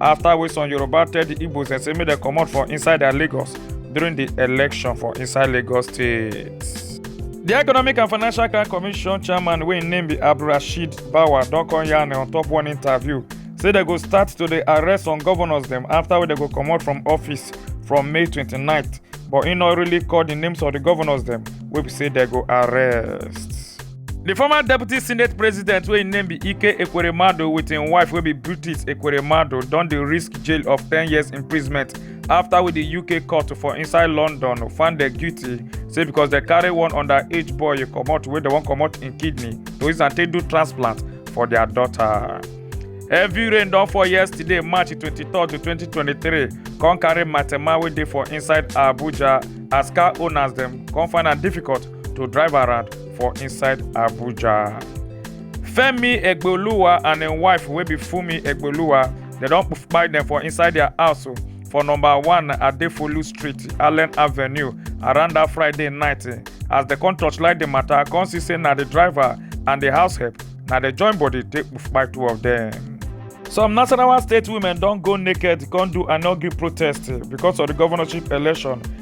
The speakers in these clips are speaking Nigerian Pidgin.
after wey some yoruba tell di igbos dem say make dem comot for inside their lagos during di election for inside lagos state. The Economic and Financial Crime Commission chairman wey im name be Abdulrasheed Bawa don come yarn on top one interview say dem go start to dey arrest some governors dem after wey dem go comot from office from May 29th but im no really call the names of the governors dem wey be say dem go arrest. di former deputy senate president wey im name be ike ekweremadu wit im wife wey be british ekweremadu don dey risk jail of ten years imprisonment afta wey di uk court for inside london find dem guilty say becos dem carry one underage boy comot wey dem wan comot im kidney to use am take do transplant for dia daughter. heavy rain don fall yesterday march 23 2023 come carry matema wey dey for inside abuja as car owners dem come find am difficult to drive around for inside Abuja. Femi Egboluwa and im wife wey be Fumi Egboluwa, dem don kpai dem for inside their house o, for number one Adefolu Street, Allen Avenue, around that Friday night. eh, As dem come torchlight the matter, come see say na the driver and the house help, na dem join body take kpai two of them. Some Nasarawa state women don go naked come do annual protest eh, because of the governorship election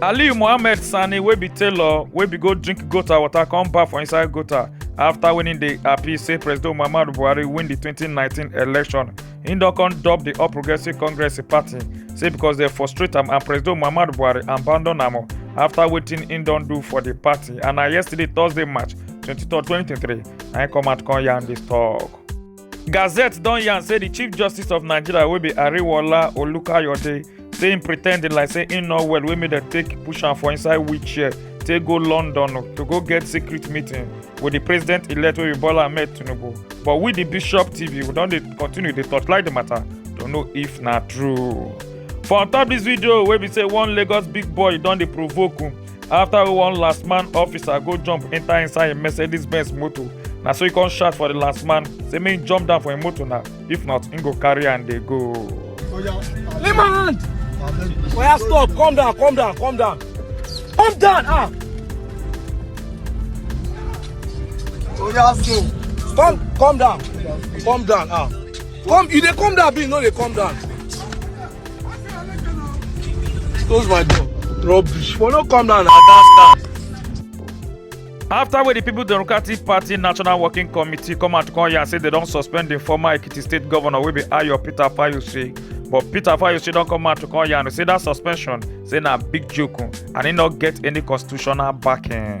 aliyu mohammed sani wey be tailor wey be go drink gota water come baff for inside gota afta winning di appeal say president muhammadu buhari win di 2019 election im don come dub di all progressives congress party say becos dem frustrate am and president muhammadu buhari abandon am afta wetin im don do for di party and na yesterday thursday march 23 2023 na im come out come yarn dis tok. Gazette don yarn say di Chief Justice of Nigeria wey be Ariwola Olukayode say im pre ten d like say im no well wey make dem take push am for inside wheelchair take go London to go get secret meeting with di president-elect wey be Bola Ahmed Tinubu. But we di Bishop TV we don dey continue dey torchlight di matter to know if na true. For on top dis video wey be say one Lagos big boy don dey provoke after one last man officer go jump enter inside im mercedes benz motor na so e come shout for the last man say make him jump down for him motor now if not him go carry am dey go. Leave my hand. Oya stop, calm down, calm down, calm down. Calm down, ah. Oya stop. Calm, calm down, calm down, ah. Calm, you dey calm down, be no dey calm down. Close my door. Rubbish. For no come down at that stand. afta wey di people democratic party national working committee come out come yarn say dem don suspend di former ekiti state governor wey be ayo peter fayose but peter fayose don come out to come yarn say dat suspension say na big joke and e no get any constitutional backing.